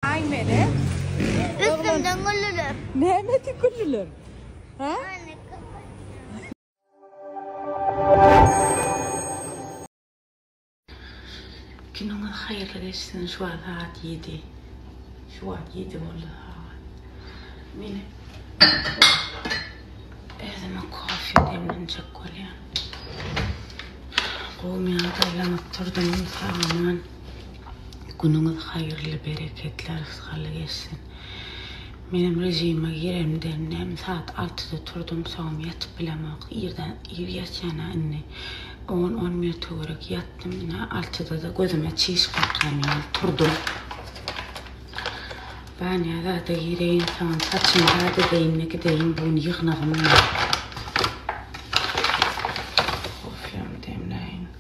Ay mele. Üstümden güllüler. Näme ki güllüler? Ha? Günüňiz haýyrly geçsin şu wagt sagat 7. Şu wagt 7 boldy sagat. Meni özüme kofe demlenjek bolýan. Gowmyýa gaýlanyp durdum saman. Günüňiz haýyrly, bereketli, rysgally geçsin. Menem režime giremden näme sagat altyda turdum, soňam ýatyp bilemok. Irden ir ýatýan-a indi. On, on bir töwerek ýatdym. Ine, altyda-da gözüme çiş kakýan ýaly turdum. Banýa zada gireýin, soňam saçymy zat edeýin-de gideýin, bu gün ýygnagym bar. Kofem demläýin.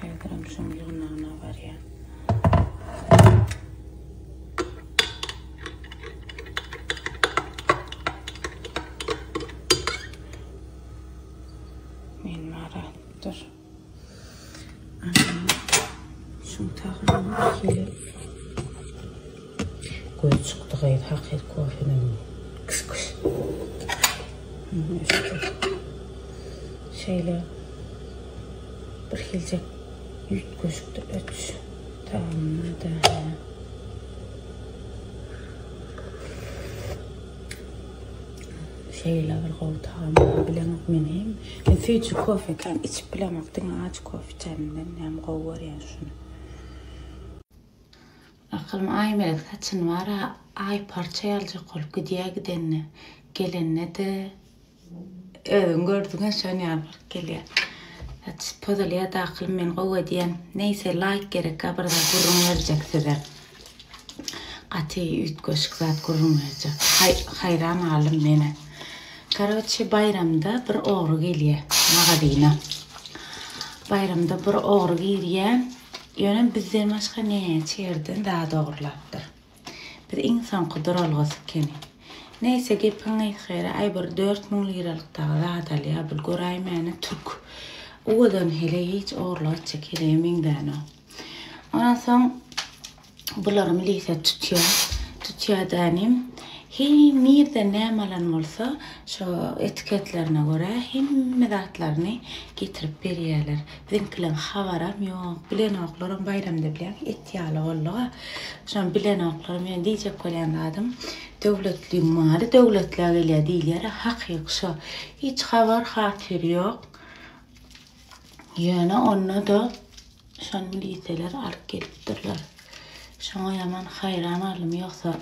Häzirem şoň ýygnagyna barýan. Men maratdyr. Şoň taýdan gelip Göz çykdy gyz hakyky kofeden kys kys. Şeýle bir hiljek üýtgeşikdir ötüş tagamynda. Şeýle bir gowy tagam bilen men hem men süýji kofe kan içip bilemok diňe aç kofe içerimden hem gowy görýän şuny. Akylym Aýmelek saçyny bar-a aýparça ýaljak bolup gidýä gidende. Gelende-de özüň gördüň-ä şon ýaly bolup gelýä. Saç pozulýa-da akylym men gowy edýän. Neýse laýk gerek-ä bir zat gürrüň berjek size. Gaty üýtgeşik zat gürrüň berjek. Haý haýran galdym men-ä. Karoçe baýramda bir ogry gelýä magazyna. Baýramda bir ogry girýä. Ýöne bizden başga näçe ýerden zat ogurlapdyr. Biz iň soňky duralgasy ekeni. Neýse gepiň gysga ýeri aý bir dört müň liralyk dagy zat alýa bul göräýmäne türk. Uwadan heleý hiç ogurlyk etjek heleýe meňzänok. Ondan soň Bularym lise tutýar. Tutýar dänim. Heý, nirde näme alan bolsa, şo etiketlerine görä hemme zatlaryny getirip berýärler. Biziňkileň habaram ýok. Bilenoklaram baýramda bilen et ýaly boldy-a. Şony bilenoklar men diýjek bolýan zadym, döwletliň maly döwletlä gelýär diýilýär-ä, hakyky şo. Hiç habar-hatyr ýok. Ýöne onda-da Şony miliseler alyp gelipdirler. Şoňa ýaman haýran galdym, ýogsa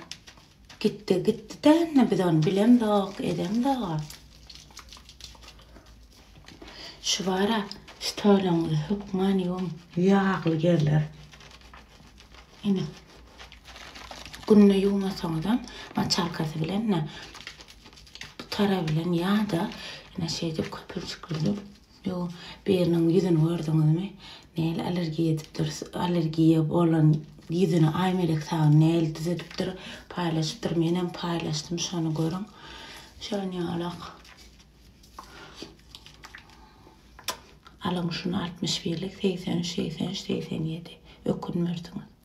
gitdi, gitdi däne biz ony bilemzok, edemzog-a. Şu bar-a, stoluňyzy hökman ýuwuň, ýagly ýerler. Ine. Günde ýuwmasaňyzam, moçalkasy bilen-de, bu tara bilen ýa-da ine şeýdip köpürjiklenip Ýo, biriniň ýüzüni gördüňizmi? Näl allergiýa edipdir, allergiýa bolan ýüzüni Aýmelek sagy näl düzedipdir, paýlaşypdyr, menem paýlaşdym, şony görüň. Şonýalak. Alyň şuny altmyş birlik, segsen üç, segsen üç, segsen ýedi. Ökünmersiňiz.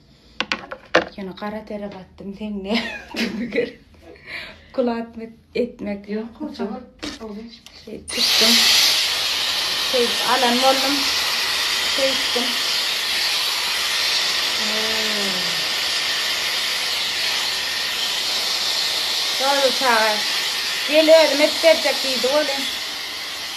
Ýöne gara tere gatdym teňňe. Kulat etmek ýok. Kulat etdim. Şeýdip alan boldum. Şeýtdim. Şol çaga gel özüm edip berjek diýdi welin.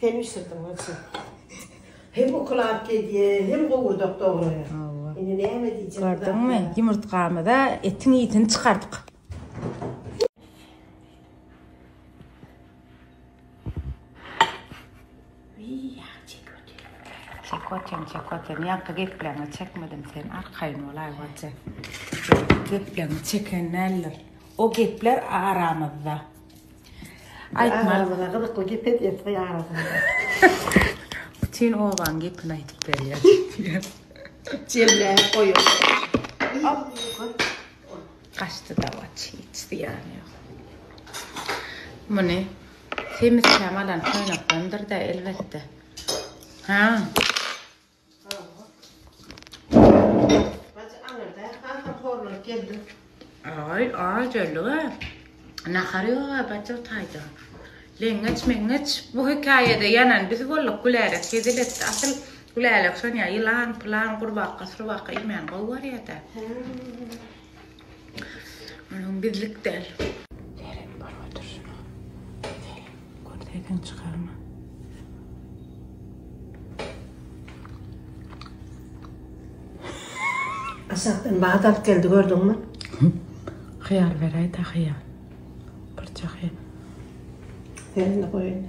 Sen bişirdiň bolsa. Hem ukyl alyp gelýär, hem gowurdak doglaýar. Hawa. Indi näme diýjek? Gördüňmi? Ýumurtgamyza etiň ýitini çykardyk. Çekotem, çekotem. Ýaňky gepleňi çekmedim sen. Arkaýyn bolaý bolsa. Gepleňi çeken däldir. O gepler aramyzda. Aýtma. Aramyza gyzykly gep et, etgi arasynda. Bütin obaň gepini aýdyp berýär. Jemläp goýuň. Gaçdy dawaç, hiç zyýany ýok. Muny Semiz Käm alan toýnakdandyr-da, elbetde. Ha. Bajy aňyrda hasam horlanyp geldim. Aý, ajellige nahar ýog-a bajy taýda. Leňňeç-meňňeç bu hekaýada ýanan biz bolduk, Gülälek hezil etdi. Asyl Gülälek şonýa ýylan-pylan, gurbakga-surbakga iýmän gowy barýa-da. Onuň bizlik däl. Seret bolup oturşyna. Seret. Görseýseň çykarma. Aşakdan bahat alyp geldi gördüňmi? Hyýar beräýdä hyýar. Birje hyýar. Elini goý indi.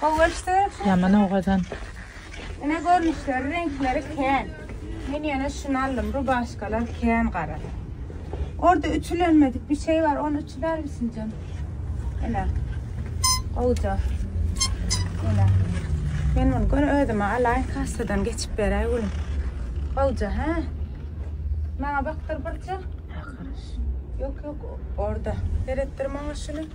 Gowaçdyrsyň. Ýaman owadan. Ine görnüşleri reňkleri kän. Men ýene şuny aldym rubaşkalar kän gara. Orda ütülenmedik bir şey bar ony ütülermisiňjim. Ene. Gowja. Ene. Men bunu gör özüme alaýyn kassadan geçip beräý gülüm. Gowja ha. Maňa bakdyr birje. Yok yok orada. Seretdir maňa şunu.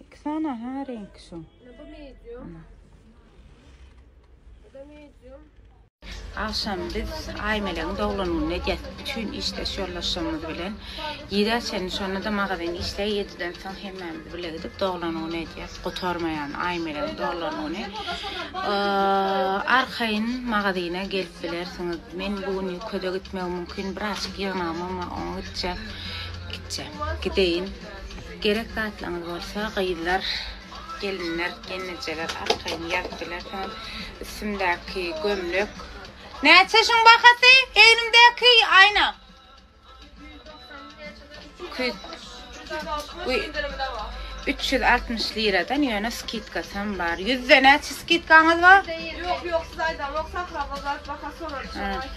İki saniye ha renk şu. Bu medium. Bu da medium. Akşam biz Aýmeleň doglan gününe ýetdik üçin işdeş ýoldaşlarymyz bilen ýere çen şonda da magazin işleý ýediden soň hemmämiz bile gidip doglan güni edýäs. Gutarmaýan Aýmeleň doglan güni. Arkaýyn magazine gelip bilersiňiz. Men bu gün ýükede gitmegim mümkin, biraz ýygnamam, oňa gitjek. Gitjek. Gideýin. Gerek zatlaňyz bolsa gyzlar, gelinler, gelnejeler arkaýyn ýazyp bilersiňiz. Üstümdäki gömlek. Näçe şuň bahasy? Egnimdäki aýna. Üç ýüz altmyş liradan ýöne skidkasy hem bar. Ýüzde näçe skidkaňyz bar? Ýok, ýok, siz aýdaňok, Sahra bazar baha sorarys.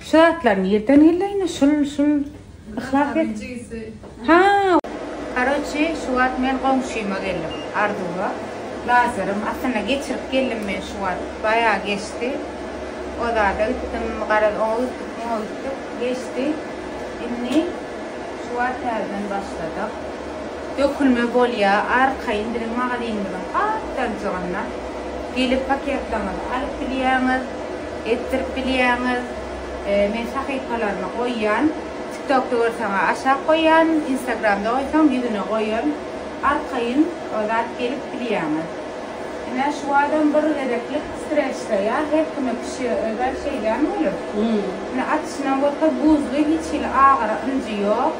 Şu zatlar nirden geldi indi şul şul yhlas et. Ha. Karoçi şu wagt men goňşyma geldim. Arzuwa. Lazerym aslynda geçirip geldim men şu wagt. Baýa geçdi. O zada gitdim garaz oňa gitdik muňa gitdik geçdi. Indi şu wagt täzeden başladyk. Dökülme bolýa arkaýyn biziň magazinimiziň gapdalcygynda gelip paketlerňizi alyp gidýäňiz. Etdirip bilýäňiz men sahypalaryma goýýan tiktokda görseň aşak goýýan instagramda goýsaň ýüzüne goýan arkaýyn o zat gelip bilýäňiz. Ine şu adam bir gezeklik streçleýa her kime pişigi özel şeýdämi welin ine atyşynam görkez buzly hiç hili agyry ynjy ýok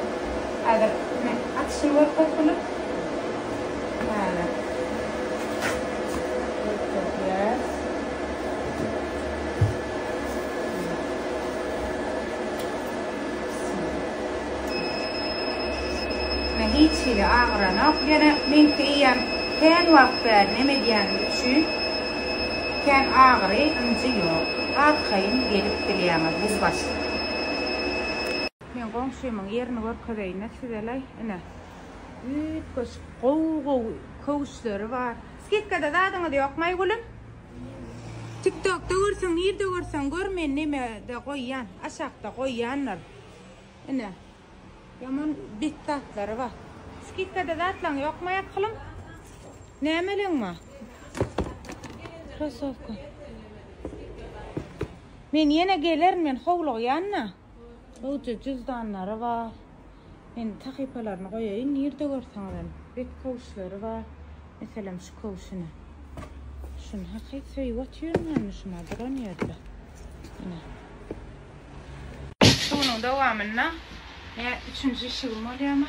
häzir ine atyşyny görkez Bulut häzir görkezýäs. hiç hili agyranok. Ýene meňki iýen kän wagt bäri neme edýänim üçin kän agyry ynjy ýok. Arkaýyn gelip bilýäňiz buz başy. Men goňşymyň ýerini görkezeýin-de sizele. Ine, üýtgeşik gowy-gowy köwüşleri bar. Skidkada zadyňyz ýokmaý gülüm. Tiktokda görseň nirde görseň gör men nemede goýýan aşakda goýýandyr ine ýaman bet zatlary bar. Skidkada zatlaň ýokmaý akylym nämeleň bar. Krosowka. Men ýene gelerin men howlugýan da. Gowja juzdanlary bar. Men sahypalaryny goýaýyn, nirde görseňiz hem. Bet köwşleri bar. Meselem şu köwşüni. Şuny hakyt söýüp otyrmyny şuna duran ýerde. Ine. Şunuň dowamynda ýa üçünji işigim bolýamy?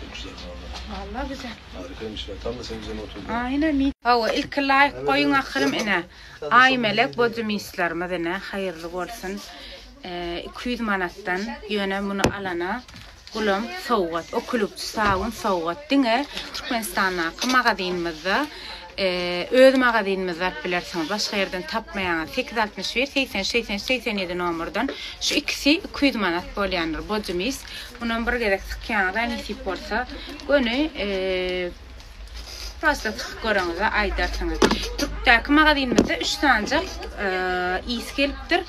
Çok güzel vallahi. Vallahi güzel. Harikaymış ya. Tam da senin üzerine oturdu. Aynen. Hawa, ilki laýk goýuň ahyrym ine. Aýmelek bodymislerimiz ine, haýyrly bolsun. 200 manatdan ýöne muny alana gulam sowgat, okulukçy sabun sowgat diňe Türkmenistandaky magazinimizde Öz magazinimizde alyp bilersiňiz, başga ýerden tapmaýaňyz. Sekiz altmyş bir, segsen üç, segsen üç, segsen ýedi nomerden. Şu ikisi iki ýüz manat bolýandyr, bojy mis. Munam bir gezek sykýaňyz-a nesip bolsa, göni prosta sykyp göreňiz-ä aýdarsyňyz. Türkdäki magazinimizde üç sanjak ys gelip Depdir.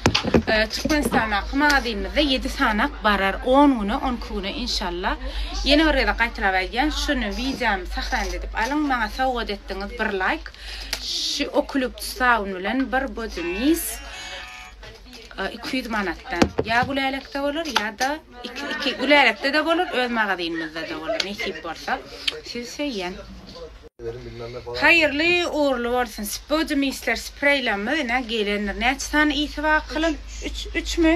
Türkmenistandaky magazynymyzda ýedi sanak barar, on güne, on iki güne inşallah. Ýene bir gezek gaýtalap aýdýan, şuny wideony sahranit edip alyň, maňa sowgat etdiňiz bir laýk. Şu okulýuptus sabun bilen bir body mis iki ýüz manatdan. Ýa Gülälekde bolar, ýa-da iki Gülälekde-de bolar, öz magazynymyzda-da bolar, nesip bolsa. Sizi söýýän. Haýyrly ugrly bolsun spody misler spreýlamy ine gelendir näçe sany isi bar akylyň üç üçmi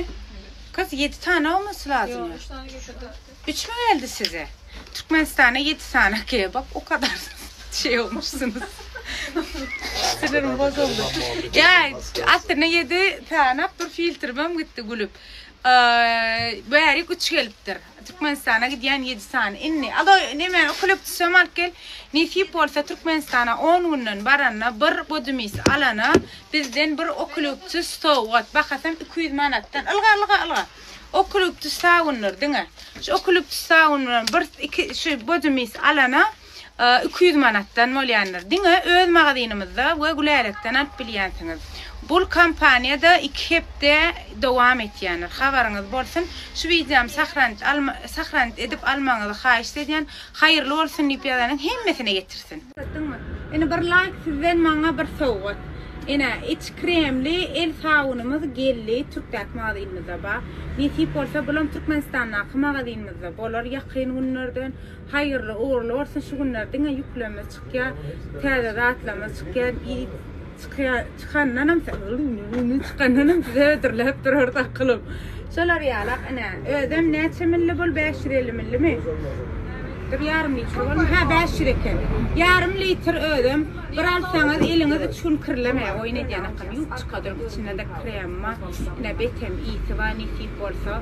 gyz ýedi sany bolmasy lazym üç sany geldi üçmi geldi size türkmenistana ýedi sany ge bak o kadar şey olmuşsynyz sinirim bozuldy ýaý aslynda ýedi sany bir filtrimem gitdi gülüp bärik üç gelipdir Türkmenistana gidýän ýedi sany indi alo neme ukaliptusam alyp gel nesip bolsa Türkmenistana on günden baranda bir bodymis alana bizden bir ukaliptus sowgat bahasam iki ýüz manatdan ylga ylga ylga ukaliptus sawundyr diňe şu ukaliptus sawun bilen bir iki şu bodymis alana iki ýüz manatdan bolýandyr. Diňe öz magazynymyzda we Gülälekden alyp bilýänsiňiz. Bul kampaniýada iki hepde dowam etýändir. Habaryňyz bolsun. Şu wideomy sahranit alma sahranit edip almagyňyzy haýyşt edýän. Haýyrly bolsun diýip ýazanyň hemmesine ýetirsin. Ýetdiňmi? Ene bir laýk sizden maňa bir sowgat. Ene iç kremli el sabunymyz geldi türkdäki magazynymyzda bar. Nesip bolsa bulam türkmenistandaky magazynymyzda bolar ýakyn günlerden. Haýyrly ugurly bolsun şu günler diňe ýüklemez çykýa täze zatlamyz çykýa çykandanam çykandanam sizi hödürläp durarys akylym şolar ýalak ine özem näçe milli bul bäş ýüz elli millimi dur ýarym litr bolmy ha bäş ýüz eken ýarym litr özem bir alsaňyz eliňiz üç gün kirlemeýär oýun edýän akylym ýuwup çykadyň içindede kremma ine betem ýiti bar nesip bolsa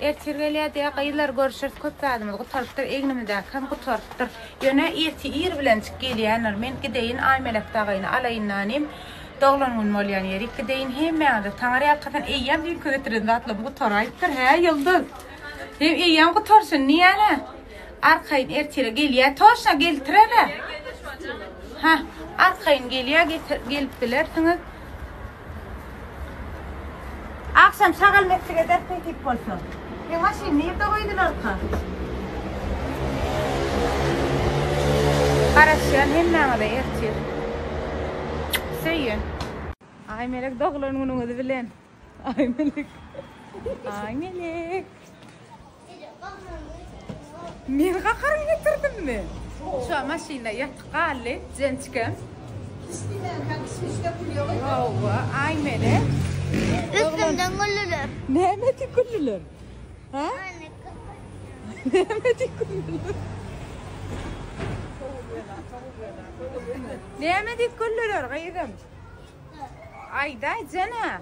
Ertir gelýär diýýär, gyzlar görüşeris, köp zadymyz gutarypdyr, egnimizäki hem gutarypdyr. Ýöne irti ir bilenjik gelýändir. Men gideýin Aýmelek dagaýyny alaýyn nanim. Doglan gün bolýan ýerik gideýin. Hemmäňize taňry ýalkasyn. Eýýäm düýnki getiren zatlarym gutaraýypdyr, hä, Ýulduz? Hem eýýäm gutarsyn, niýe-le? Arkaýyn ertire gelýär. Toşna geltire-le. Hah, arkaýyn gelýär, gelip bilersiňiz. Agşam şagal meklik eder peýtip bolsa. Meň maşyny nirde goýdularka? Garaşýan hemmäňize ertir. Söýün. Ay melek doglan günüňiz bilen. Ay melek. Ay melek. Meni gakaryň getirdimmi? Şu maşynda yatyp galdy Jençkem. Hawa, ay meni. Üstümden güllüler. Näme diýip güllüler? Ha? Näme diýip güllüler? Näme diýip güllüler gyzym? Aýdaýjana.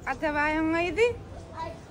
Atabaýyň gyzy.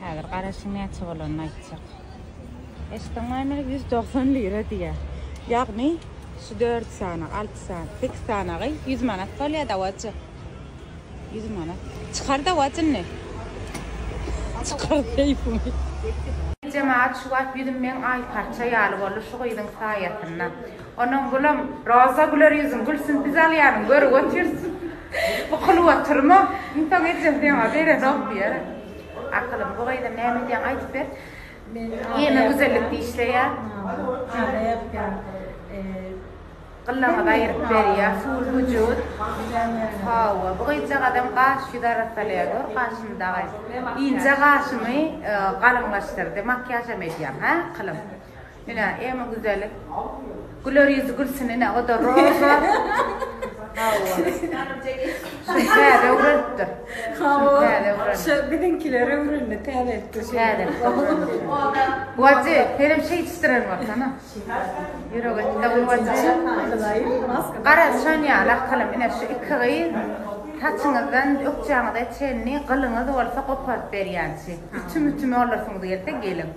Häzir garaşyň näçe bolanyny aýtjak. Eşitdiňmi meni ýüz dogsan lira diýýä. Ýagny şu dört sany, alty sany, sekiz sanagy ýüz manat bolýa dawajy. Ýüz manat. Çykar dawajy indi. Çykar keýpiňi. Jemagat şu wagt ýüzüm meň aý parça ýaly boldy şu gyzyň saýasynda. Onuň gülüm. Roza güler ýüzüň gülsün biz alýanyň göri götürsün. Bu kylyp otyrma. Iň soň ejesi ýaňa berenok diýer. Akylym bu gyza näme edýäň aýdyp ber. Men ýene güzellikde işleýän. Gyllaňyzy aýyryp berýär, suwly wujut. Hawa, bu gyzjagazam gaş ýüz arassalaya gör, gaşyny dagy. Inje gaşymy galyňlaşdyrdy, makiýažam edýäň, hä, Akylym? Ine eme güzeli. Güler ýüzi gülsün ine o da roza. Täze öwrenipdir. Täze öwren. Şu biziňkiler öwrendi täze etdi. Täze. Wajy, senem şeý çistiren bolsana. Ýürek etdi wajy. Gara şon ýaly akalam ine şu iki gyz saçyňyzdan ökjäňize çenli gylyňyz bolsa goparyp berýänçi. Ütüm-ütüm olarsyňyz gelse geliň.